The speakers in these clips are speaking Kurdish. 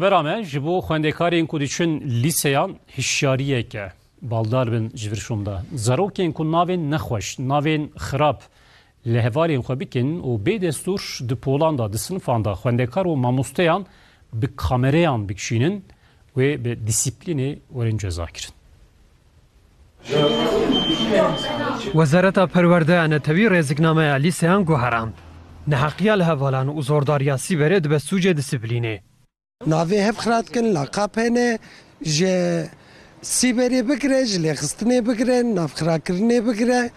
Vera me ji bo xwendekarên ku diçin lîseyan hişyariyek e. Baldar bin ji vir şûnda. Zarokên ku navên nexweş, navên xirab li hevalên xwe bikin û bê destûr di polan de, di sinifan de xwendekar û mamosteyan bi kamereyan bikişînin wê bi dîsîplînê werin cezakirin. Wezareta Perwerdeya Netewî rêziknameya lîseyan guherand. Neheqiya li hevalan û zordariya sîberê dibe sûcê disîplînê. Navê hevxira dikin, laqab hene, ji sîberê bigire, ji lêxistinê bigire, navxirakirinê bigire,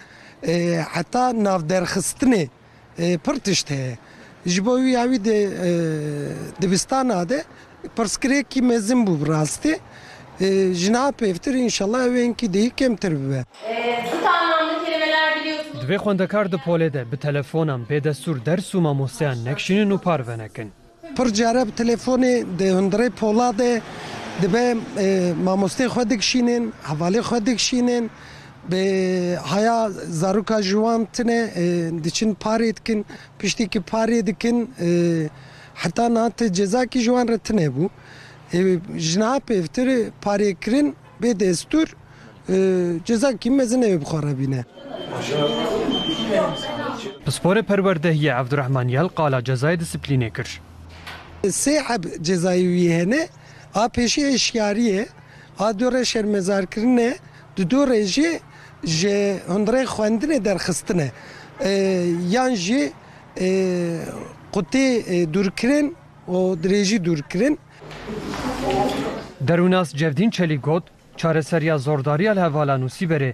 heta navderxistinê. Pir tişt heye. Ji bo wî ya wî di dibistana de pirsgirêkî mezin bû bi rastî. Ji niha pêvtir înşellah ew ên kî dihî kêmtir bibe. Divê xwendekar di polê de bi telefonan bê destûr ders û mamosteyan nekişînin û parve nekin. Pir care bi telefonê di hundirê Poladê dibe mamosteyê xwe dikişînên, hevalê xwe dikişînên, bi haya zaroka ji wan tune diçin parê dikin, piştî ku parê dikin heta niha ti cezakî ji wan re tune bû. Ji niha pêvtir parêkirin Bê destûr cezakî mezin nebe bixwerebîne. Pisporê Perwerdehiyê Evdurehman Yel qala cezayê disiplînê kir. Sê heb cezayê wî hene, a pêşî hişyarî ye, a du re şermezarkirin e, di du re jî ji hundirê xwendinê derxistin e yan jî qutê dûrkirin û dirêjî dûrkirin. Derûnas Cevdîn Çelîk got, Çareseriya zordariya li hevalan û sîberê